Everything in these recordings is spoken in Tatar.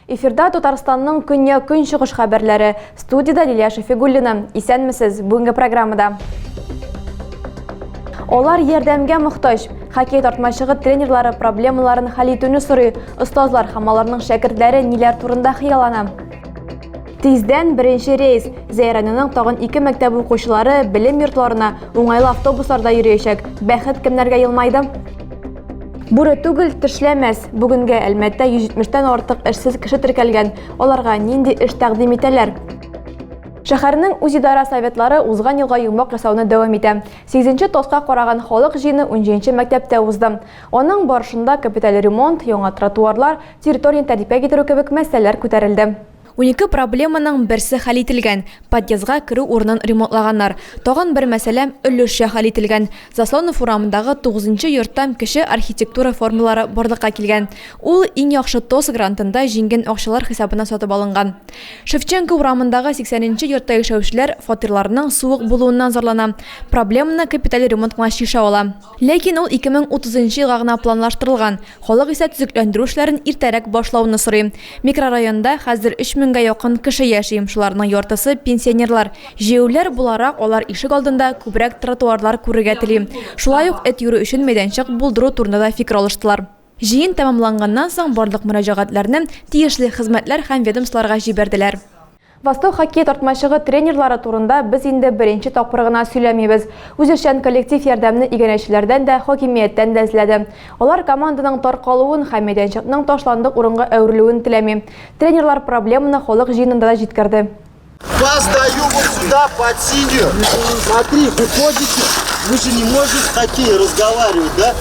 Эфирда Татарстанның көнья көнчыгыш хәбәрләре. Студияда Лилия Шафигуллина. Исәнмесез. Бүгенге программада. Олар ярдәмгә мохтаҗ. Хоккей тартмачыгы тренерлары проблемаларын хәл итүне сорый. Остазлар һәм аларның шәкертләре ниләр турында хыяллана? Тиздән беренче рейс Зәйранының тагын ике мәктәп укучылары белем йортларына уңайлы автобусларда йөриячәк. Бәхет кемнәргә елмайды? Бүре түгел, тешләмәс. Бүгенгә Әлмәттә 170-тән артык эшсез кеше теркәлгән. Аларга нинди эш тәкъдим итәләр? Шәһәрнең үзидара советлары узган елга йомак ясауны дәвам итә. 8 тоска караган халык җыены 17 мәктәптә узды. Аның барышында капиталь ремонт, яңа тротуарлар, территорияне тәртипкә китерү кебек мәсьәләләр күтәрелде. Унике проблеманың берсе хәл ителгән, подъездга керү урынын ремонтлаганнар. Тагын бер мәсьәлә өлешчә хәл ителгән, Заслонов урамындагы тугызынчы йорттан кече архитектура формалары барлыкка килгән. Ул Иң яхшы ТОС грантында җиңгән акчалар хисабына сатып алынган. Шевченко урамындагы сиксәненче йортта яшәүчеләр фатирларының суык булуыннан зарлана, проблеманы капиталь ремонт кына чишә ала. Ләкин ул 2030 нчы елга гына планлаштырылган. Халык исә төзекләндерү эшләрен иртәрәк башлауны сорый. Микрорайонда хәзер 3 меңгә якын кеше яши, шуларның яртысы, пенсионерлар. Җәяүләр буларак, алар ишек алдында күбрәк тротуарлар күрергә тели. Шулай ук эт йөрү өчен мәйданчык булдыру турында да фикер алыштылар. Җыен тәмамланганнан соң барлык мөрәҗәгатьләрне тиешле хезмәтләр һәм ведомстволарга җибәрделәр. Восток хоккей тартмачыгы тренерлары турында без инде беренче тапкыр гына сөйләмибез. Үзешчән коллектив ярдәмне иганәчеләрдән дә, хакимияттән дә эзләде. Алар команданың таркалуын һәм мәйданчыкның ташландык урынга әверелүен теләми. Тренерлар проблеманы халык җыенында да җиткерде. Вас даю вот сюда под синюю. Смотри, выходите. Мы же не можем в хоккей разговаривать, да?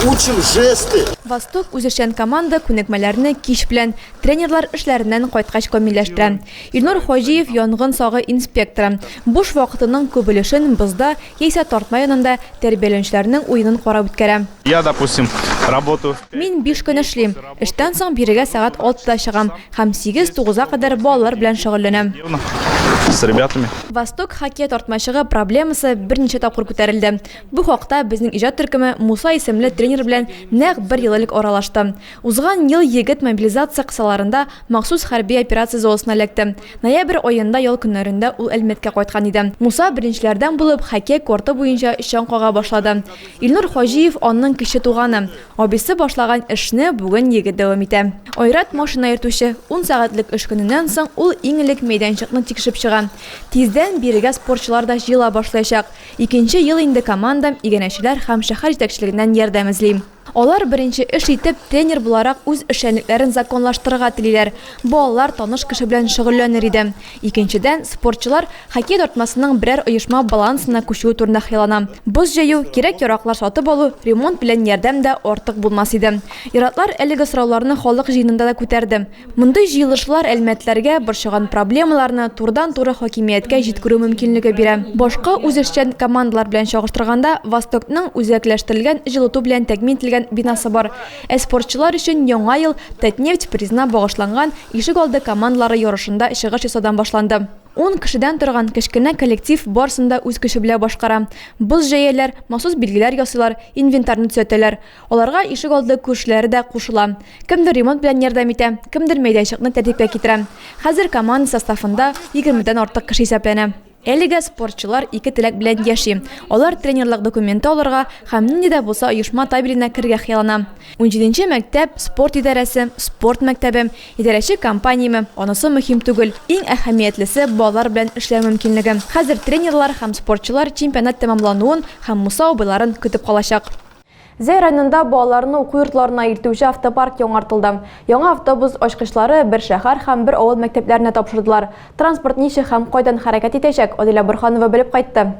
Учим жесты. Восток үзешчән команда күнекмәләрне кич белән, Тренерлар эшләреннән кайткач камилләштерә. Илнур Хаҗиев, янгын сагы инспекторы, буш вакытының күп өлешен бозда яисә тартма янында тәрбияләнүчеләрнең уенын карап үткәрә. Я, допустим, работу. Мин биш көн эшлим. Эштән соң бирегә сәгать алтыда чыгам һәм сигез-тугызга кадәр балалар белән шөгыльләнәм. С ребятами. Восток хоккей тартмачыгы проблемасы берничә тапкыр күтәрелде. Бу хакта безнең иҗат төркеме Муса исемле тренер белән нәкъ бер ел элек аралашты. Узган ел егет мобилизация кысаларында махсус хәрби операция зонасына эләкте. Ноябрь аенда ял көннәрендә ул Әлмәткә кайткан иде. Муса беренчеләрдән булып хоккей корты буенча чаң кага башлады. Илнур Хаҗиев аның кече туганы. Абыйсы башлаган эшне бүген егет дәвам итә. Айрат, машина йөртүче. Ун сәгатьлек эш көненнән соң ул иң элек мәйданчыкны тикшереп чыга. Тиздән бирегә спортчылар да җыела башлаячак. Икенче ел инде командам, иганәчеләр һәм шәһәр җитәкчелегеннән ярдәм эзли. Алар беренче эш итеп тренер буларак үз эшчәнлекләрен законлаштырырга телиләр. Балалар таныш кеше белән шөгыльләнер иде. Икенчедән, спортчылар хоккей тартмасының берәр оешма балансына күчүе турында хыяллана. Боз җәю, кирәк-яраклар сатып алу, ремонт белән ярдәм дә артык булмас иде. Ир-атлар әлеге сорауларны халык җыенында да күтәрде. Мондый җыелышлар әлмәтләргә борчыган проблемаларны турыдан-туры хакимияткә җиткерү мөмкинлеге бирә. Башка үзешчән командалар белән чагыштырганда, Востокның үзәкләштерелгән җылыту белән тәэмин ителгән бинасы бар. Ә спортчылар өчен Яңа ел Татнефть призына багышланган ишегалды командалары ярышында чыгыш ясаудан башланды. Ун кешедән торган кечкенә коллектив барысын да үз көче белән башкара. Боз җәяләр, махсус билгеләр ясыйлар, инвентарьны төзәтәләр. Аларга ишегалды күршеләре дә кушыла. Кемдер ремонт белән ярдәм итә, кемдер мәйданчыкны тәртипкә китерә. Хәзер команда составында егермедән артык кеше исәпләнә. Әлегә спортчылар ике теләк белән яши. Алар тренерлык документы алырга һәм нинди дә булса оешма табеленә керергә хыяллана. Унҗиденче мәктәп, спорт идарәсе, спорт мәктәбе, идарәче компаниямы, анысы мөһим түгел. Иң әһәмиятлесе, балалар белән эшләү мөмкинлеге. Хәзер тренерлар һәм спортчылар чемпионат тәмамлануын һәм Муса абыйларын көтеп калачак. Зәй районында балаларны уку йортларына илтүче автопарк яңартылды. Яңа автобус ачкычлары бер шәһәр һәм бер авыл мәктәпләренә тапшырдылар. Транспорт ничек һәм кайдан хәрәкәт итәчәк, Адилә Борһанова белеп кайтты.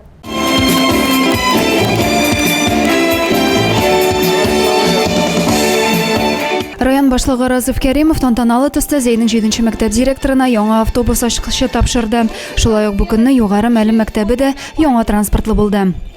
Район башлыгы Разыф Кәримов тантаналы төстә Зәйнең җиденче мәктәп директорына яңа автобус ачкычы тапшырды. Шулай ук бу көнне Югары Мәлем мәктәбе дә яңа транспортлы булды.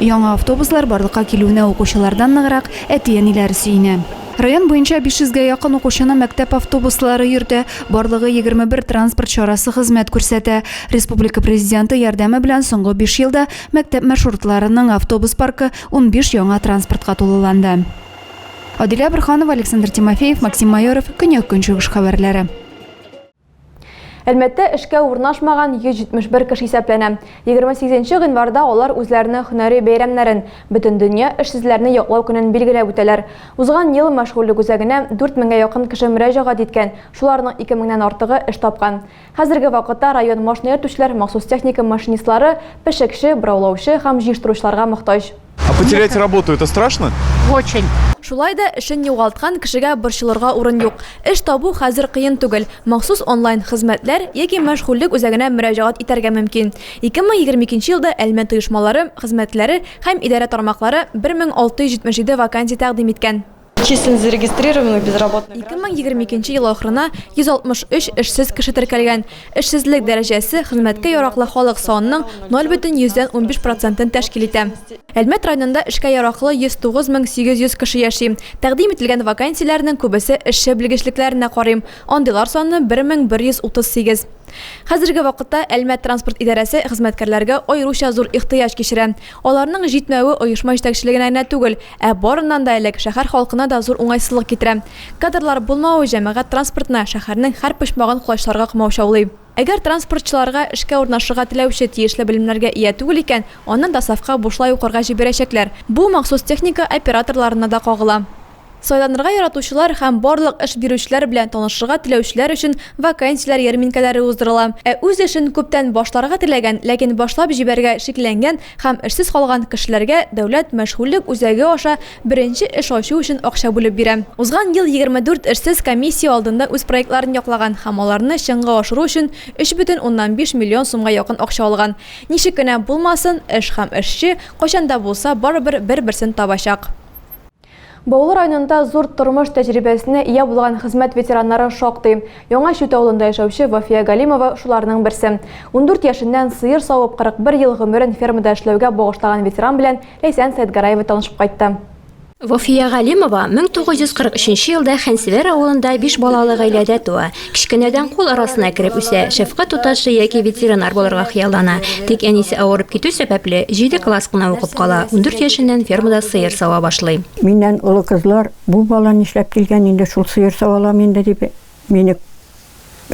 Яңа автобуслар барлыкка килүенә укучылардан ныграк әти-әниләр сөенә. Район буенча 500 гә якын укучыны мәктәп автобуслары йөртә, барлыгы 21 транспорт чарасы хезмәт күрсәтә. Республика Президенты ярдәме белән соңгы биш елда мәктәп маршрутларының автобус паркы унбиш яңа транспортка тулыланды. Адилә Борһанова, Александр Тимофеев, Максим Майоров, Көньяк-Көнчыгыш хәбәрләре. Әлмәттә эшкә урнашмаган 171 кеше исәпләнә. 28 нче гыйнварда алар үзләренең һөнәри бәйрәмнәрен, Бөтендөнья эшсезләрне яклау көнен билгеләп үтәләр. Узган ел мәшгульлек үзәгенә 4 меңгә якын кеше мөрәҗәгать иткән, шуларның 2 меңнән артыгы эш тапкан. Хәзерге вакытта район машина йөртүчеләр махсус техника машинистлары, пешекче, бораулаучы һәм җыештыручыларга мохтаҗ. А потерять работу это страшно? Очень. Шулай да эшен югалткан кешегә борчылырга урын юк. Эш табу хәзер кыен түгел. Махсус онлайн хезмәтләр яки мәшгульлек үзәгенә мөрәҗәгать итәргә мөмкин. 2022 елда Әлмәт оешмалары, хезмәтләре һәм идарә тармаклары 1677 вакансия тәкъдим иткән. Числен зарегистрированных безработных. 2022 ел ахырына 163 эшсез кеше теркәлгән. Эшсезлек дәрәҗәсе хезмәткә яраклы халык санының 0,115 процентын тәшкил итә. Әлмәт районында эшкә яраклы 109 мең 800 кеше яши. Тәкъдим ителгән вакансияләрнең күбесе эшче белгечлекләренә карый, андыйлар саны 1138. Хәзерге вакытта Әлмәт транспорт идарәсе хезмәткәрләргә аеруча зур ихтыяҗ кичерә. Аларның җитмәве оешма җитәкчелегенә генә түгел, ә барыннан да элек, шәһәр халкына да зур уңайсызлык китерә. Кадрлар булмавы җәмәгать транспортына шәһәрнең һәр почмагын колачларга комаучаулый. Әгәр транспортчыларга эшкә урнашырга теләүче тиешле белемнәргә ия түгел икән, аны ДОСАВка бушлай укырга җибәрәчәкләр. Бу махсус техника операторларына да кагыла. Сайланырга яратучылар һәм барлык эш бирүчеләр белән танышырга теләүчеләр өчен вакансияләр ярминкәләре уздырыла. Ә үз эшен күптән башларга теләгән, ләкин башлап җибәрергә шикләнгән һәм эшсез калган кешеләргә дәүләт мәшгульлек үзәге аша беренче эш ачу өчен акча бүлеп бирә. Узган ел 24 эшсез комиссия алдында үз проектларын яклаган һәм аларны чынга ашыру өчен 3 бөтен уннан биш миллион сумга якын акча алган. Ничек кенә булмасын, эш һәм эшче кайчан да булса барыбер бер-берсен табачак. Баулы районында зур тормыш тәҗрибәсенә ия булган хезмәт ветераннары шактый. Яңа Чүт авылында яшәүче Вафия Галимова шуларның берсе. Ундүрт яшеннән сыер савып, 41 ел гомерен фермада эшләүгә багышлаган ветеран белән Ләйсән Сәетгараева танышып кайтты. Вафия Галимова 1943 елда Хәнсевер авылында биш балалы гаиләдә туа. Кечкенәдән кул арасына кереп үсә, шәфкать туташы яки ветеринар булырга хыяллана. Тик әнисе авырып китү сәбәпле, җиде класс кына укып кала, ундүрт яшеннән фермада сыер сава башлый. Миннән олы кызлар, Бу бала нишләп килгән инде, шул сыер саваламы инде, дип мине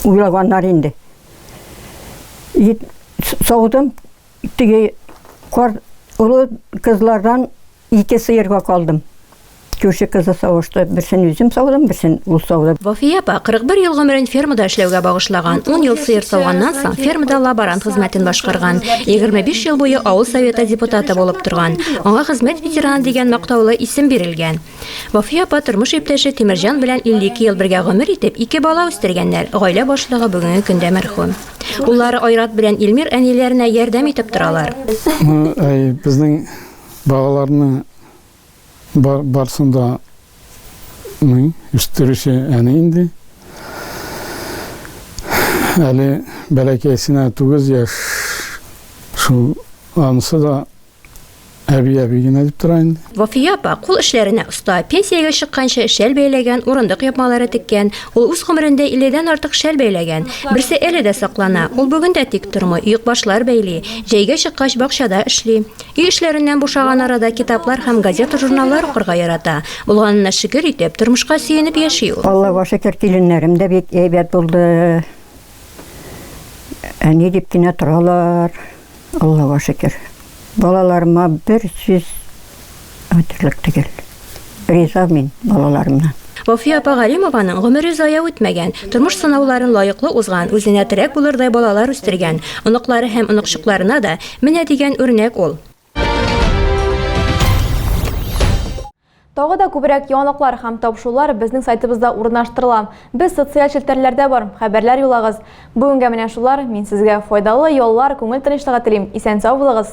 уйлаганнар инде. Саудым, теге олы кызлардан Ике сыерга калдым. Күрше кызы савышты. Берсен үзем саудым, берсен ул сауды. Вафия апа 41 ел гомерен фермада эшләүгә багышлаган. 10 ел сыер сауганнан соң фермада лаборант хезмәтен башкарган. 25 ел буе авыл советы депутаты булып торган. Аңа хезмәт ветераны дигән мактаулы исем бирелгән. Вафия апа тормыш иптәше Тимерҗан белән 52 ел бергә гомер итеп, ике бала үстергәннәр. Гаилә башлыгы бүгенге көндә мәрхүм. Уллары Айрат белән Илмир әниләренә ярдәм итеп торалар. Безнең Балаларны бар, барсын да ну, үстерүче әни инде. Әле бәләкәйсенә тугыз яшь. Шул анысы да әби әби генә дип тора инде. Вафия апа кул эшләренә оста. Пенсиягә чыкканчы шәл бәйләгән, урындык япмалары теккән. Ул үз гомерендә 50 артык шәл бәйләгән. Берсе әле дә саклана. Ул бүген дә тик тормый, оекбашлар бәйли. Җәйгә чыккач бакчада эшли. Өй эшләреннән бушаган арада китаплар һәм газета-журналлар укырга ярата. Булганына шөкер итеп, тормышка сөенеп яши ул. Аллага шөкер, киленнәрем дә бик әйбәт булды. Әни дип кенә торалар, Аллага шөкер. Балаларыма бер сүз. Матурлык төгәл. Риза мин балаларымнан. Вафия апа Галимованың гомере зая үтмәгән, тормыш сынауларын лаеклы узган, үзенә терәк булырдай балалар үстергән, оныклары һәм оныкчыкларына да менә дигән үрнәк ул. Тагы да күбрәк яңалыклар һәм табышулар безнең сайтыбызда урнаштырыла. Без социаль челтәрләрдә бар, хәбәрләр юлагыз. Бүгенгә менә шулар, мин сезгә файдалы яллар, күңел тынычлыгы телим, исән-сау булыгыз!